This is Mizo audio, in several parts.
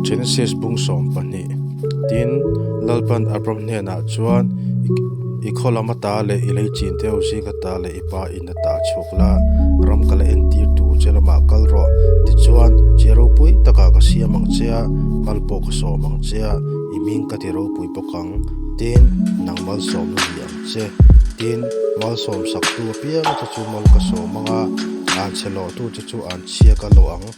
Genesis bung sawm pahnih. Tin, Lalpan Abram hnenah chuan, I khawlam a ta leh i lei chin deuh zing a ta leh i pa in a ta chhuk la, ram kal entir tur che lamah kal rawh, tichuan, Che ropui takah ka siam ang che a, mal pawh ka sawm ang che a, i ming ka ti ropui bawk ang. Tin, nang mal sawmna ni ang che. Tin, mal sawmsaktu apiang chu chu mal ka sawm ang a, an che lawhtu chu chu an chhiak a lawh ang.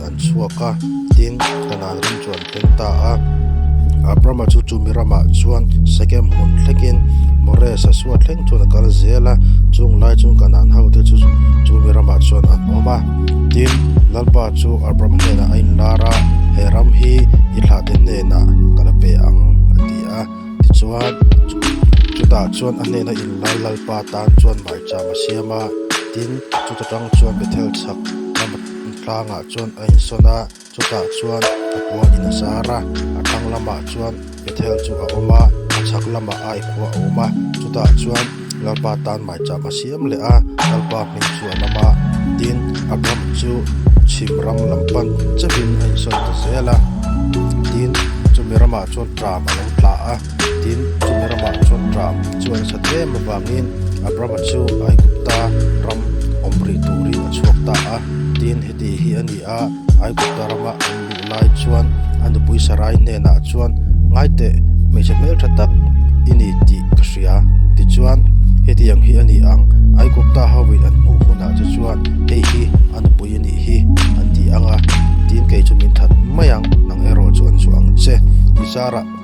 an chhuak a, tin, Khanan ram chu an tel ta a. Abrama chu chumi ramah chuan Sekem hun thlekin Moresa chhuat thleng chuan a kal zel a, chunglai chuan Khanan hote chu chumi ramah chuan an awm a. Tin, Lalpa chu Abram hnenah a inlar a, He ram hi i thlahte hnenah ka la pe ang, a ti a. Tichuan, chutah chuan a hnena inlar Lalpa tan chuan hmaicham a siam a, tin, chuta tang chuan Bethel chhak ram aṭang a. tlangah chuan a insawn a chutah chuan a kua in a zar a a thlang lamah chuan Bethel chu a awm a a chhak lamah a kua a awm a chutah chuan Lalpa tan maichap a siam leh a Lalpa hming chu a awm a tin a ram chu chhim ram lam pan chauhin a insawn ta zel a tin chumi ramah chuan tram a lo tla a. Tin, Chumi ramah chuan Ram chu a nasa tlem avangin Abrama chu Aigupta ram awm rih turin a chhuak ta a. Tin, heti hi a ni a, Aigupta rama awm luh lai chuan a nupui Sarai hnenah chuan, Ngaiteh, hmeichhe hmel tha tak i ni tih ka hria. Tichuan, hetiang hi a ni ang, Aigupta hoin an hmuh hunah te chuan, Hei hi a nupui a nih hi, an ti ang a. Tin, kei chu min that mai ang, nang erawh chu an suah ang che. Michara.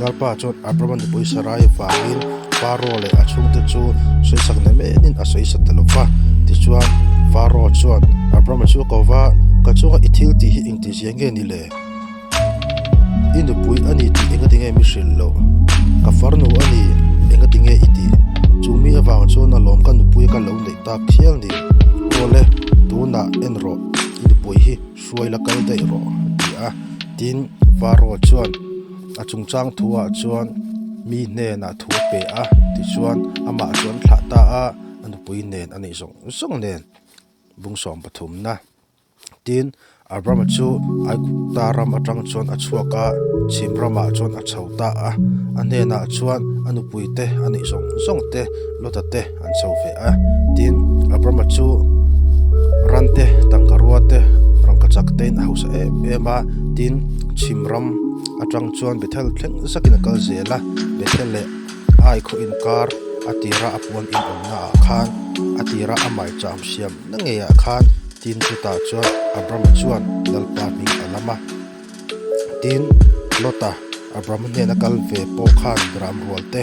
Lalpa chuan Abrahmani pawisa rai vangin Pharaoh leh a chhungte chu sawisak nem emin a sawi sat ta lo va. Tichuan, Pharaoh chuan Abrahmani chu a ko va, Ka chunga i thil tih hi engtiziah nge ni le? I nupui a ni tih engati nge mi hrilh loh? Ka farnu a ni engati nge i tih? Chumi avang chuan a lawm ka nupui a ka lo neih tak chiang ni. Awle, tunah en rawh, i nupui hi. Hruai la kal daih rawh, ti a tin Varro chuan a chungchang thu-ah chuan mi hnenah thu a peh a ti chuan amah chu an thlah ta a, a nupui nen a nih zawng zawng nen bung sawm pathum na. Tin, Abrama chu Aigupta ram atang chuan a chhuak a, chhim ramah chuan a chho ta a, a hnenah chuan a nupuite a nih zawng zawngte, Lota te, An chho ve a, tin Abrama chu rante, tangka ruate, rangka chaktein a hausa em em a, tin chhim ram atang chuan Bethel thleng zakin a kal zel a. Bethel leh Ai khua inkar a tira a puan inawmnaah khan a tira a maicham hriam na ngeiah khan tin chutah chuan Abrama chuan Lalpa hming a lam a. Tin Lota Abrama hnena kal ve pawh khan ram rualte.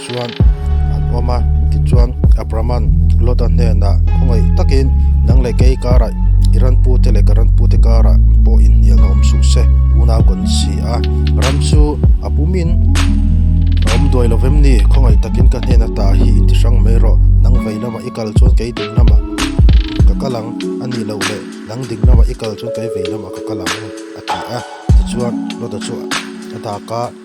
chuan an awm a tichuan a brahman Lota hnenah khawngei takin nang leh kei karah i ran pu te leh ka ran pu te karah pawh inhnial a awm suh se una kawn si a ram chu a pumin a awm duai lovem ni khawngei takin ka hnen atah hi inti hrang mai rawh nang vei lamah i kal chuan kei ding lamah ka kal ang a nih loh leh nang ding lamah i kal chuan kei vei lamah ka kal ang a ti a tichuan Lota chu a dak a.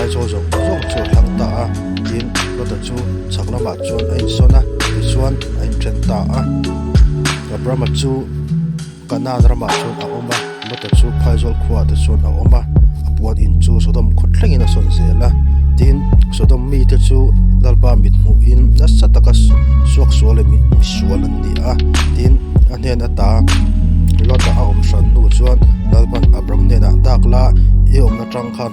Aizawl zawng zawng chu a thlang ta a, tin Lota chu chhak lamah chuan a insawn a, tichuan a inthen ta a. Abrama chu Kanan ramah chuan a awm a, Lota chu phaizawl khuaah te chuan a awm a, a puan in chu Sodom khaw thlengin a sawn zel a, tin Sodom mite chu Lalpa mithmuhin nasa taka suak sual leh misual an ni a, tin a hnen ata Lota a awm hran hnu chuan Lalpan Abram hnenah, Dak la, i awmna tang khan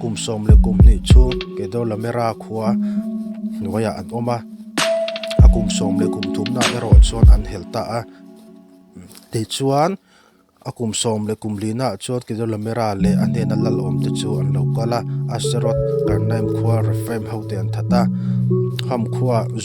Kum sawm leh kum hnih chu Kedor la Mera khua hnuaiah an awm a, a kum sawm leh kum thum nah erawh chuan an hel ta a. Tichuan, a kum sawm leh kum lih nah chuan Kedor la Mera leh a hnena lal awm te chu an lo kal a, Asterot, Karnaim khua, Refraim hote an that a, Ham khua,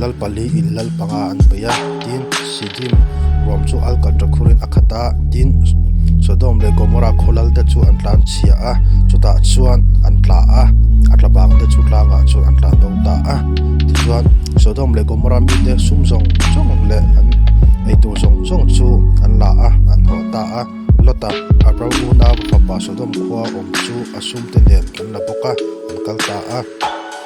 Lalpali in lal panga an paih a, tin, Sidim ruam chu alkatra khurin a khat a, tin, Sodom leh Gomorrah khawlal te chu an tlan chhiah a, chutah chuan an tla a, a tla bang te chu tlangah chuan an tla do ta a. Tichuan, Sodom leh Gomorrah mite sum zawng zawng leh an eitur zawng zawng chu an la a, an hawh ta a. Lota, Abraham-una fapa Sodom khua awm chu a sumte nen an la bawk a, an kal ta a.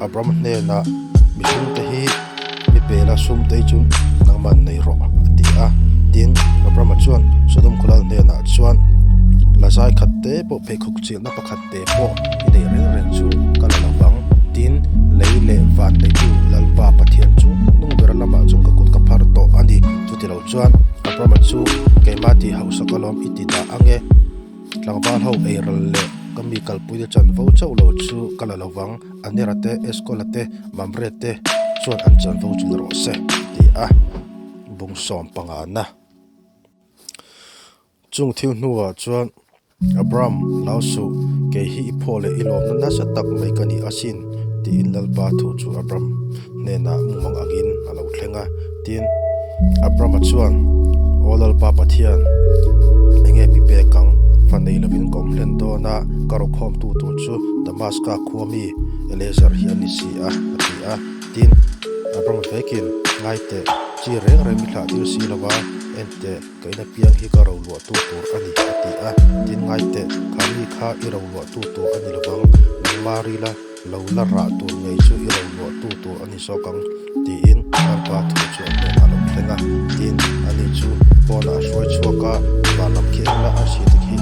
Abram hnena, Mihring te hi mi pela sum te chu nang man nei rawh, a ti a. Tin, Abrama chuan Sodom khawlal hnenah chuan, Lazai khat te pawh pheikhawk chilhna pakhat te pawh i nei reng reng chu ka la la vang. Tin, lei leh van neitu Lalpa Pathian chu hnung ber lamah chuan ka kut ka phar tawh a ni. Chutilo chuan Abrama chu, Keimah tih hausa ka lawm i ti dah ang e. Tlangval ho ei ral leh ka mi kalpuia chan vo chauh lo chu ka la lo vang, Anera te, Eskola te, Mamre te chuan an chan vo chulh rawh se ti a bung sawm pangana. Chung thil hnuah chuan Abram, lau suh, kei hi i phaw leh i lawmna nasa tak mai ka ni asin tiin Lalpa thu chu Abram. hnenah mumang angin a lo thleng a. Tin, Abrama chuan, Aw Lalpa Pathian, enge mi pek ang fa nei lovin ka awm hlen dawn a, ka rawkhawmtu tur chu Damaska khua mi Eleazar hi a ni si a, a ti a. Tin, Abrama vekin, Ngaiteh, chi reng reng mi thlah tir si lova enteh ka in apiang hi ka ro luahtu tur a ni, a ti a. Tin, ngaiteh, kha mi kha i ro luahtu tur a ni lovang, nangmah rila. Lo la rah tur ngei chu i rawn luahtu tur a ni zawk ang, tiin Karpa thu chu a hnen a lo thleng a. Tin, ani chu phone ah a hruai chhuak a, Vah lam khi eng la Arsi te khi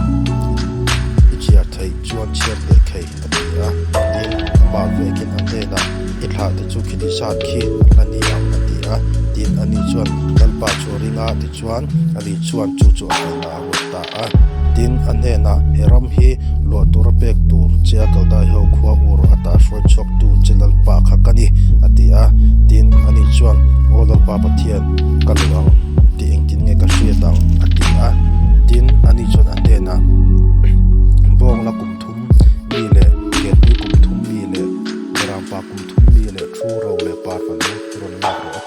i chiar theih chuan chhiat leh thei a ti a, tin, amah vekin a hnenah, I thlah te chu khitih zat khi a ni ang a ti a, tin, ani chuan Karpa chu a ring a tichuan, ani chuan chu chu a hlen a. a rawn ta a, tin a hnenah he ram hi luah tur a pek tur Chia Kaldai ho khua ur a tah hruai chhuaktu che lalpa kha ka ni, a ti a. Tin, a nih chuan, Aw lalpa Pathian, ka luh ang, tih engtin nge ka hriat ang? a ti a. Tin, a ni chuan a hnenah Bawngla kum thum mi leh Kelpui kum thum mi leh Mirangpa kum thum mi leh thu ro leh parva lung rawn lak rawh a ti.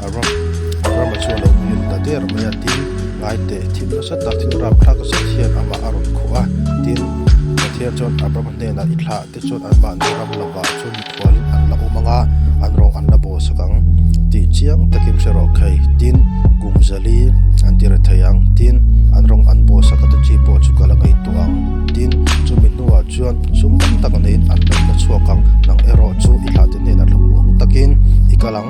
A ram a ram a chu a lo hmil ta der mai a tin ngaiteh thim nasa tak thinrap thlak zet hian amah a rawn khuh a tin Pathian chuan Abraham hnenah i thlah te chuan an mahni ram lamah chu mikhual an la awm anga an rawng an la baw sak ang tih chiang takin hre rawh khai tin kum zali an ti re thei ang tin an rawng an baw sak ata chi pawh chu ka la ngaihtuah ang tin chumi hnuah chuan sum tam tak neiin an laihna chhuak ang nang erawh chu i thlah te hnenah hlauh awm takin i kal ang.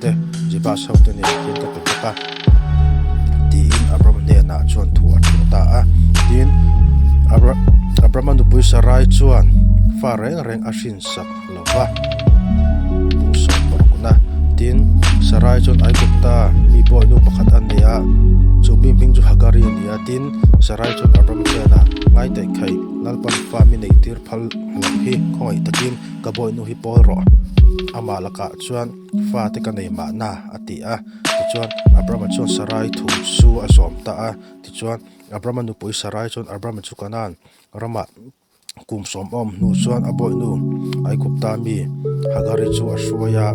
te, Jebus hote nen hian ka pe bawk a, tiin Abram hnenah chuan thu a thleng ta a. Tin, Abrama nupui Sarai chuan fa reng reng a hrinsak lo va, bung sawm pawh kun a. Tin, Sarai chuan Aigupta mi buainu pakhat a nia, chu mi hming chu Hagari a nia. Tin, Sarai chuan Abram hnenah, Ngaihtaih khai, lalpan fa mi nei tir phal loh hi khawngaih takin ka buainu hi pawl rawh, amah lakah chuan, Fate ka nei mahna, a ti a. Tichuan, Abrama chuan Sarai thu chu a zawm ta a. Tichuan, Abrama nupui Sarai chuan Abrama chu Kanaan rama kum sawmawm hnu chuan a bawihnu Aigupta mi Hagari chu a hruai a.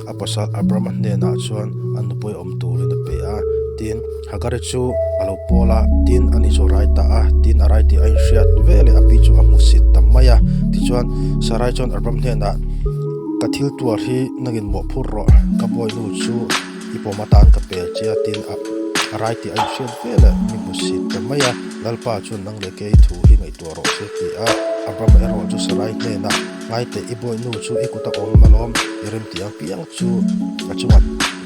A pasal Abrama hnenah chuan a nupui awm turin a pe a. Tin. Hagari chu a lo pawl a, tin a ni chu a rai ta a, tin a rai tih a inhriat ve leh api chu a hmu sit ta mai a. Tichuan, Sarai chuan a ram hnenah, Ka thil tuar hi nang in mawh phur rawh, ka bawihnu chu i pawm atan ka pel che a, tin a a rai tih a inhriat ve leh i hmu sit ta mai a. Lalpa chuan, Nang leh kei thu hi ngaihtuah rawh che, ti a. Abram erawh chu Sarai hnenah, Ngaite, i bawihnu chu i kut a awm alawm, i remti ang piang chu a chungat.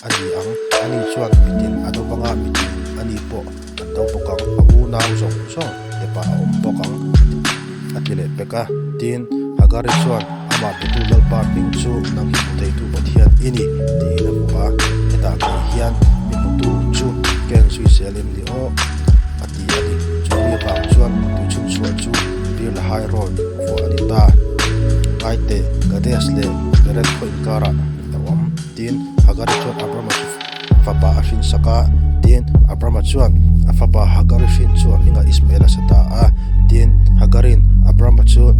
A ni ang. A ni chuan mitin a do vang a, mitin a ni pawh an do bawk ang. A u nau zawng zawng te pah a awm bawk ang, a ti leh pek a. Tin, Hagari chuan, Amah biatur Lalpa hming chu nang hi hmu theitu Pathian i ni, tiin a hmu a. Hetah kei hian mi hmutu chu Ken Suisel in ni aw, a ti a ni. Chu mi vang chuan tui chhunchhuah chu Beer Lahai Road vawr a ni ta. Ngaite, Gades leh Beret khaw inkarah a awm. Tin, Hagari chuan Abrama fapa a hrinsak a. Tin, Abrama chuan a fapa Hagari hrin chu a hmingah Ismaela sa ta a. Tin, Hagarin Abrama chu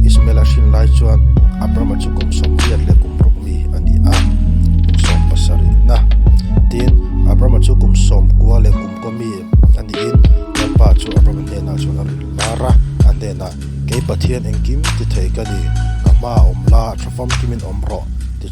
Ismaela a hrin lai chuan Abrama chu kum sawmriat leh kum rawkmi a ni a, kum sawm pasarihna. Tin, Abrama chu kum sawmkua leh kum kuami a niin Lalpa chu Abrama hnenah chuan a rilru hlar a, a hnenah, Kei Pathian engkim ti thei ka ni, ka hmaah awm la, tha fam kimin awm rawh, ti chuan a ti.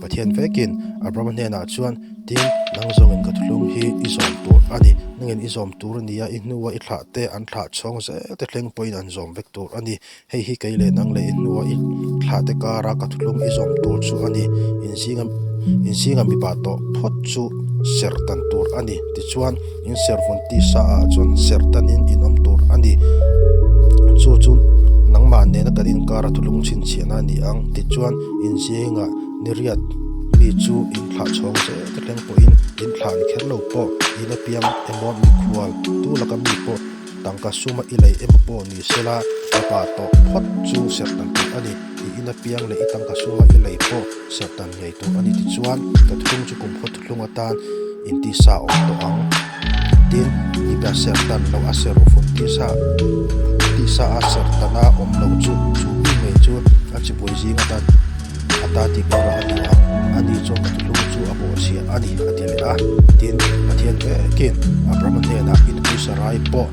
Pathian vekin Abrahama hnenah chuan, Tin, nang zawngin ka thuhlung hi i zawm tur a ni. Nangin i zawm tur a ni a, i hnua i thlah te an thlah chhawng zel te thleng pawhin an zawm vek tur a ni. Hei hi kei leh nang leh i hnua i thlah te kara ka thuhlung i zawm tur chu a ni. Inzinga mipa tawh phawt chu ser tan tur a ni. Tichuan. In servawn tisa ah chuan ser tan in in awm tur a ni. Chu chu nangmah nena kan inkar a thulung chhinchhiah na a ni ang. Tichuan inzing ah niriat mi chu in thlah chhawng zet a tleng pawh in in thlah ni kher lo pawh in apiang emaw mikhual tu laka mi pawh tangka suma i lei emaw pawh ni se la mipa tawh phawt chu ser tan tur a ni. I in apiang leh i tangka suma i lei pawh ser tan ngei tur a ni tichuan ka thung chu kum khaw thung. hlung atan intisa awm tawh ang tin hibia ser tan loh a ser fun tisa tisa a ser tan a awm loh chu chu bik mai chu a chawpawih zing atan a ta tih ka rawh a ni ang ani chuan ka ti hlung chu a bawhchhiah a ni a ti leh a tin pathian ekin abrahma hnenah inpuisa rai pawh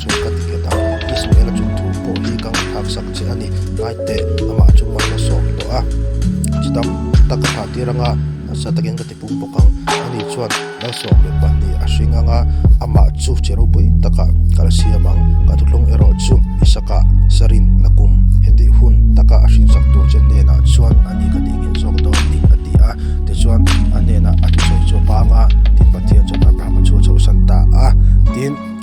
Chu ka ti khet a, Israel-a chung thu pawh hi ka ngaih hak sak che a ni. Ngaihte, amah chu man a sawm tawh a, chutang tak a thah tir ang a, hmasa takin ka ti pum bawk ang. Ani chuan, Lal sawm leh pahnih a hring ang a, amah chu che ropui takah kal siam ang. Ka thutlawng erawh chu Isaka, Sarin, Nakum hetih hun taka a hrinsak tur che hnenah chuan ani ka tih nghet zawk dawn ni, a ti a. Tichuan, a hnenah a ti sawi chu a pang a, tin Pathian chuan Abrahama chu a chhohsan ta a, tin.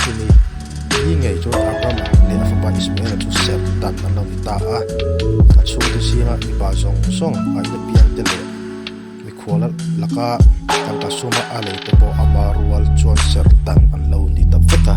chumi ni ngei chuan a ram leh a fapa Ismaela chu serh dan an lo ni ta a, a chhungte zinga mipa zawng zawng a ina piangte leh mikhuala laka tangka suma a leite pawh ama rual chuan serh dan an lo ni ta vek a.